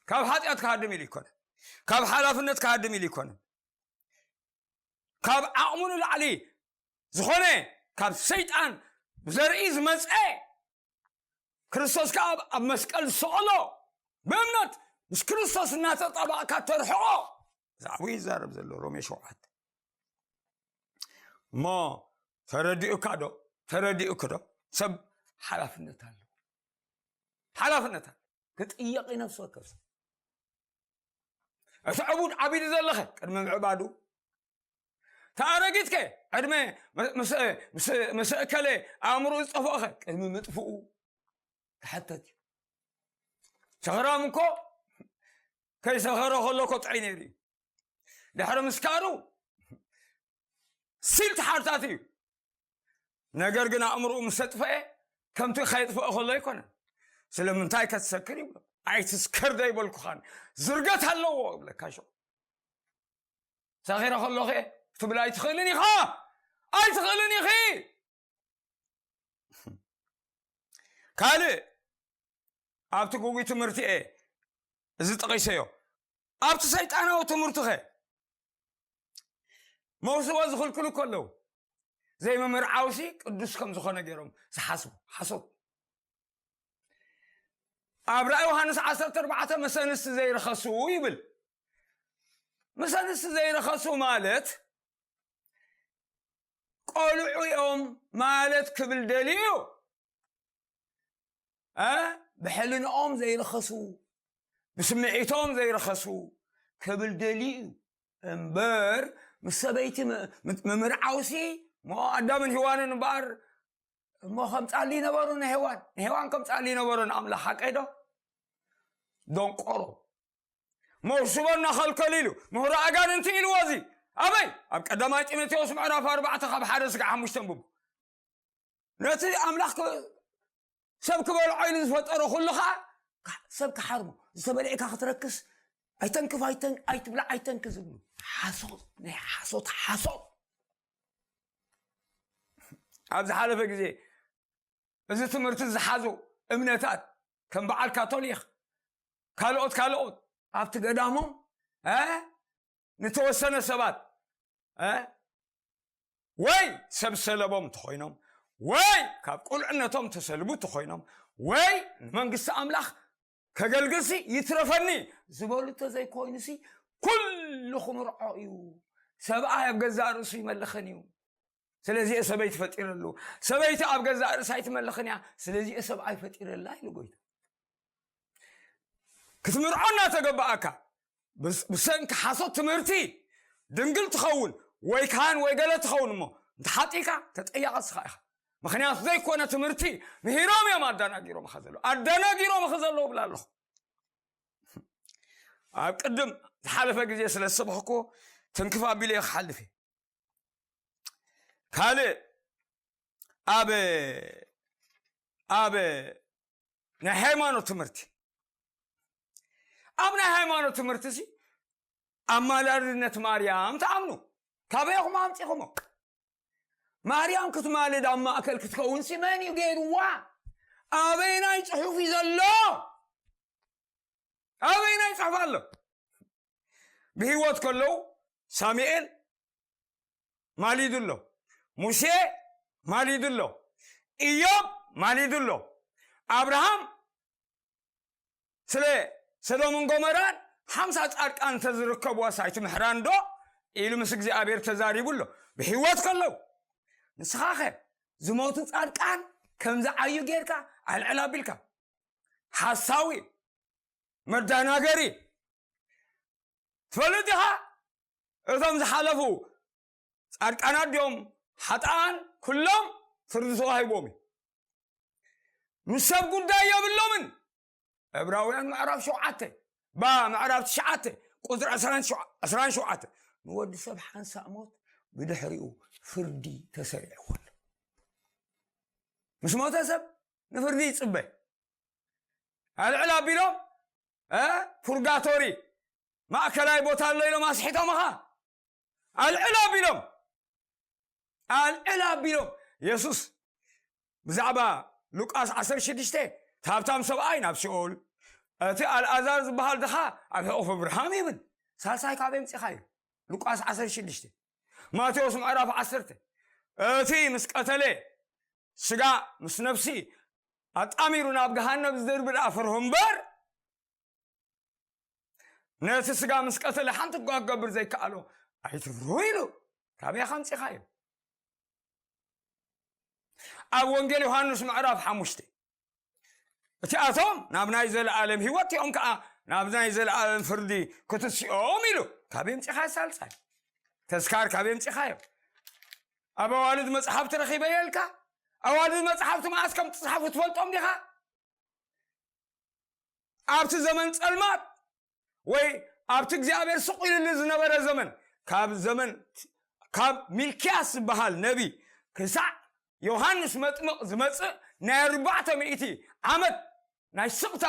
ካብ ሓጢኣት ክሃድም ኢሉ ኣይኮነን ካብ ሓላፍነት ክሃድም ኢሉ ኣይኮነን ካብ ዓቕሙ ንላዕሊ ዝኾነ ካብ ሰይጣን ብዘርኢ ዝመፀ ክርስቶስ ከዓ ኣብ መስቀል ዝሰቐሎ ብእምነት ምስ ክርስቶስ እናተጠባእካ ተርሕቆ ብዛዕባ ይዛረብ ዘሎ ሮሜ ሸውዓተ እሞ ተረዲኡካ ዶ ተረዲኡክ ዶ ሰብ ሓላፍነት ኣለዎ ሓላፍነት ኣሎ ክጥየቕ እዩ ነፍሲ ወከፍ ሰብ እቲ ዕቡድ ዓቢዱ ዘለኸ ቅድሚ ምዕባዱ እቲ ኣረጊት ከ ዕድመ ምስ እከለ ኣእምሮ ዝጠፍኦኸ ቅድሚ ምጥፍኡ ክሓተት እዩ ሰኽራም እኮ ከይሰኸረ ከሎ ኮጥዐይ ነይሩ እዩ ድሕሪ ምስካሩ ስንት ሓርታት እዩ ነገር ግን ኣእምርኡ ምስ ተጥፈአ ከምቲ ከየጥፍኦ ከሎ ኣይኮነ ስለምንታይ ከትሰክር ይብሎ ኣይትስከር ዘይበልኩኻን ዝርገት ኣለዎ ይብለካ ሸ ሰኺረ ከሎ ከ ትብል ኣይትኽእልን ኢኻ ኣይትኽእልን ኢኺ ካልእ ኣብቲ ጉጉ ትምህርቲ እየ እዚ ጠቂሰዮ ኣብቲ ሰይጣናዊ ትምህርቲ ኸ መውስቦ ዝኽልክሉ እኮ ኣለዉ ዘይምምርዓውሲ ቅዱስ ከም ዝኾነ ገይሮም ዝሓስቡ ሓሶት ኣብ ራእ ዮሃንስ 14 ምስ ኣንስቲ ዘይረኸሱ ይብል ምስ ኣንስቲ ዘይረኸሱ ማለት ቆልዑ እዮም ማለት ክብል ደልዩ እዩ ብሕልንኦም ዘይረኸሱ ብስምዒቶም ዘይረኸሱ ክብል ደልዩ እዩ እምበር ምስ ሰበይቲ ምምርዓውሲ እሞ ኣዳምን ሂዋንን እምበኣር እሞ ከም ፃሊ ነበሩ ንሄዋን ንሄዋን ከም ፃሊ ነበሩ ንኣምላኽ ሓቀይ ዶ ደንቆሮ መውስቦ እናኸልከሉ ኢሉ ምሁሮ ኣጋንንቲ ኢልዎ እዚ ኣበይ ኣብ ቀዳማይ ጢሞቴዎስ ምዕራፍ ኣርባዕተ ካብ ሓደ ስጋ ሓሙሽተ ንብቡ ነቲ ኣምላኽ ሰብ ክበልዖ ኢሉ ዝፈጠሮ ኩሉ ከዓ ሰብ ክሓርሞ ዝተበልዔካ ክትረክስ ኣይተንክፍ ኣይትብላ ኣይተንክ ዝብሉ ሓሶት ናይ ሓሶት ሓሶት ኣብ ዝሓለፈ ግዜ እዚ ትምህርቲ ዝሓዙ እምነታት ከም በዓል ካቶሊክ ካልኦት ካልኦት ኣብቲ ገዳሞም ንተወሰነ ሰባት እ ወይ ሰብ ሰለቦም ተኾይኖም ወይ ካብ ቁልዕነቶም ተሰልቡ ተኾይኖም ወይ ንመንግስቲ ኣምላኽ ከገልግልሲ ይትረፈኒ ዝበሉ ተዘይኮይኑሲ ኩሉ ክምርዖ እዩ ሰብኣይ ኣብ ገዛእ ርእሱ ይመልኽን እዩ ስለዚ እየ ሰበይቲ ፈጢረሉ ሰበይቲ ኣብ ገዛእ ርእሳ ኣይትመልኽን እያ ስለዚ እየ ሰብኣይ ፈጢረላ ኢሉ ጎይታ ክትምርዖ እናተገባኣካ ብሰንኪ ሓሶት ትምህርቲ ድንግል ትኸውን ወይ ካህን ወይ ገለ ትኸውን እሞ እንተሓጢእካ ተጠያቐ ስኻ ኢኻ ምክንያቱ ዘይኮነ ትምህርቲ ምሂሮም እዮም ኣዳናጊሮምኻ ዘሎ ኣዳናጊሮምኺ ዘለዉ ብላ ኣለኹ ኣብ ቅድም ዝሓለፈ ግዜ ስለ ዝሰብኽኮ ትንክፍ ኣቢለ እየ ክሓልፍ እየ ካልእ ኣብ ኣብ ናይ ሃይማኖት ትምህርቲ ኣብ ናይ ሃይማኖት ትምህርቲ ሲ ኣማላድነት ማርያም ትኣምኑ ካበይ ኢኹም ኣምፂኹሞ ማርያም ክትማልድ ኣብ ማእከል ክትከውን ሲ መን እዩ ገይርዋ ኣበይ ናይ ፅሑፍ እዩ ዘሎ ኣበይ ናይ ፅሑፍ ኣሎ ብሂወት ከለዉ ሳሙኤል ማሊዱ ኣሎ ሙሴ ማሊዱ ኣሎ እዮብ ማሊዱ ኣሎ ኣብርሃም ስለ ሰዶምን ጎመራን ሓምሳ ጻድቃን እንተዝርከብዋ ሳይቲ ምሕራን ዶ ኢሉ ምስ እግዚኣብሔር ተዛሪቡ ኣሎ ብሕይወት ከለው ንስኻ ኸ ዝሞቱ ጻድቃን ከም ዝዓዩ ጌርካ ኣልዕል ኣቢልካ ሓሳዊ መዳናገሪ ትፈልጥ ዲኻ እቶም ዝሓለፉ ጻድቃናት ድዮም ሓጥኣን ኩሎም ፍርዲ ተዋሂቦም እዩ ምስ ሰብ ጉዳይ የብሎምን ዕብራውያን ምዕራፍ ሸውዓተ ባ ምዕራፍ ትሽዓተ ቁፅሪ ዕስራን ሸውዓተ ንወዲ ሰብ ሓንሳእ ሞት ብድሕሪኡ ፍርዲ ተሰሪዕዎ ኣሎ ምስ ሞተ ሰብ ንፍርዲ ይፅበ ኣልዕል ኣቢሎም ፑርጋቶሪ ማእከላይ ቦታ ኣሎ ኢሎም ኣስሒቶምኻ ኣልዕል ኣቢሎም ኣልዕል ኣቢሎም የሱስ ብዛዕባ ሉቃስ 16 እቲ ሃብታም ሰብኣይ ናብ ሲኦል እቲ ኣልኣዛር ዝበሃል ድኻ ኣብ ሕቑፊ ብርሃም ይብል ሳልሳይ ካብ ምፂኻ እዩ ሉቃስ 16 ማቴዎስ ምዕራፍ 10 እቲ ምስ ቀተለ ስጋ ምስ ነፍሲ ኣጣሚሩ ናብ ገሃነብ ዝድርቢ ደኣ ፍርሁ እምበር ነቲ ስጋ ምስ ቀተለ ሓንቲ እኳ ክገብር ዘይከኣሎ ኣይትፍርሁ ኢሉ ካበይ ከምፂኻዮ ኣብ ወንጌል ዮሃንስ ምዕራፍ ሓሙሽተ እቲኣቶም ናብ ናይ ዘለኣለም ህይወት እዮም ከዓ ናብ ናይ ዘለኣለም ፍርዲ ክትስኦም ኢሉ ካብ የምፂኻ ሳልሳይ ተስካር ካብ የምፂኻዮ ኣብ ኣዋልድ መጽሓፍቲ ረኺበዮ ኢልካ ኣዋልድ መጽሓፍቲ መዓስ ከም ትጽሓፉ ትፈልጦም ዲኻ ኣብቲ ዘመን ጸልማት ወይ ኣብቲ እግዚኣብሔር ስቕ ኢልሉ ዝነበረ ዘመን ካብ ዘመን ካብ ሚልክያስ ዝበሃል ነቢ ክሳዕ ዮሃንስ መጥምቕ ዝመጽእ ናይ ኣርባዕተ ሚእቲ ዓመት ናይ ስቕታ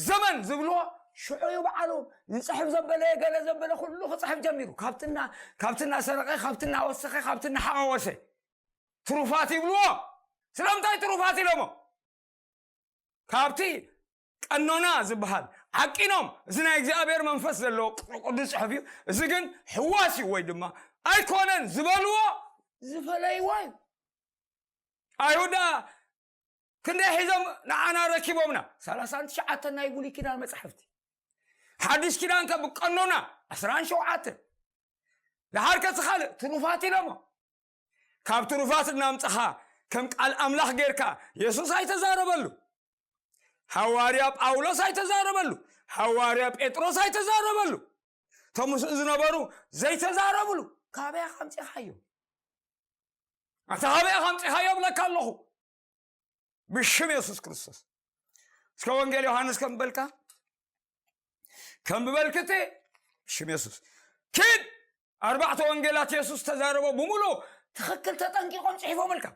ዘመን ዝብልዎ ሽዑ እዩ በዓሉ ይፅሕፍ ዘበለ ገለ ዘበለ ኩሉ ክፅሕፍ ጀሚሩ ካብትና ካብቲ እናሰረቀ ካብቲ እናወሰኸ ካብቲ እናሓዋወሰ ትሩፋት ይብልዎ ስለምንታይ ትሩፋት ኢሎሞ ካብቲ ቀኖና ዝበሃል ዓቂኖም እዚ ናይ እግዚኣብሔር መንፈስ ዘለዎ ቅዱስ ጽሑፍ እዩ እዚ ግን ሕዋስ እዩ ወይ ድማ ኣይኮነን ዝበልዎ ዝፈለይዎ እዩ ኣይሁዳ ክንደይ ሒዞም ንዓና ረኪቦምና ሰላሳን ትሽዓተን ናይ ብሉይ ኪዳን መጻሕፍቲ ሓድሽ ኪዳን ከ ብቀኖና ዕስራን ሸውዓተ ደሓር ከ ካልእ ትሩፋት ኢሎሞ ካብ ትሩፋት እናምጽኻ ከም ቃል ኣምላኽ ጌርካ የሱስ ኣይተዛረበሉ ሃዋርያ ጳውሎስ ኣይተዛረበሉ ሃዋርያ ጴጥሮስ ኣይተዛረበሉ እቶም ምስኡ ዝነበሩ ዘይተዛረብሉ ካበይ ከምፂኻዮ ኣታ ካበይ ኢኻ ኣምጺኻዮ እብለካ ኣለኹ ብሽም የሱስ ክርስቶስ እስከ ወንጌል ዮሃንስ ከም በልካ ከም ብበልክቲ ሽም የሱስ ኪድ ኣርባዕተ ወንጌላት የሱስ ተዛረቦ ብምሉ ትኽክል ተጠንቂቆም ጽሒፎምልካ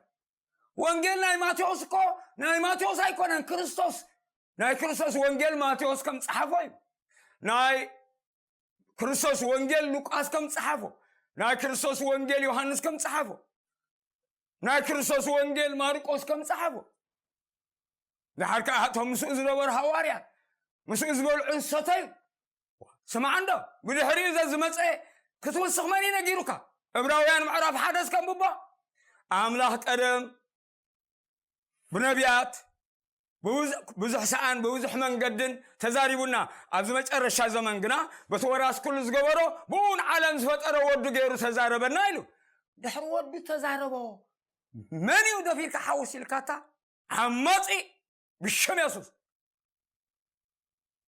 ወንጌል ናይ ማቴዎስ እኮ ናይ ማቴዎስ ኣይኮነን ክርስቶስ ናይ ክርስቶስ ወንጌል ማቴዎስ ከም ጸሓፎ እዩ ናይ ክርስቶስ ወንጌል ሉቃስ ከም ጸሓፎ ናይ ክርስቶስ ወንጌል ዮሃንስ ከም ጸሓፎ ናይ ክርስቶስ ወንጌል ማርቆስ ከም ጸሓፎ ድሓር ከዓ እቶም ምስኡ ዝነበሩ ሃዋርያት ምስኡ ዝበልዑ ዝሰተዩ ስማዕ እንዶ ብድሕሪ እዘ ዝመፀ ክትውስኽ መን እዩ ነጊሩካ እብራውያን ምዕራፍ ሓደስ ከምብቦ ኣምላኽ ቀደም ብነቢያት ብዙሕ ሰኣን ብብዙሕ መንገድን ተዛሪቡና ኣብዚ መጨረሻ ዘመን ግና በቲ ወራስ ኩሉ ዝገበሮ ብኡ ንዓለም ዝፈጠረ ወዱ ገይሩ ተዛረበና ኢሉ ድሕሪ ወዱ ተዛረቦ መን እዩ ደፊርካ ሓውስ ኢልካታ ዓማፂ ብሽም የሱስ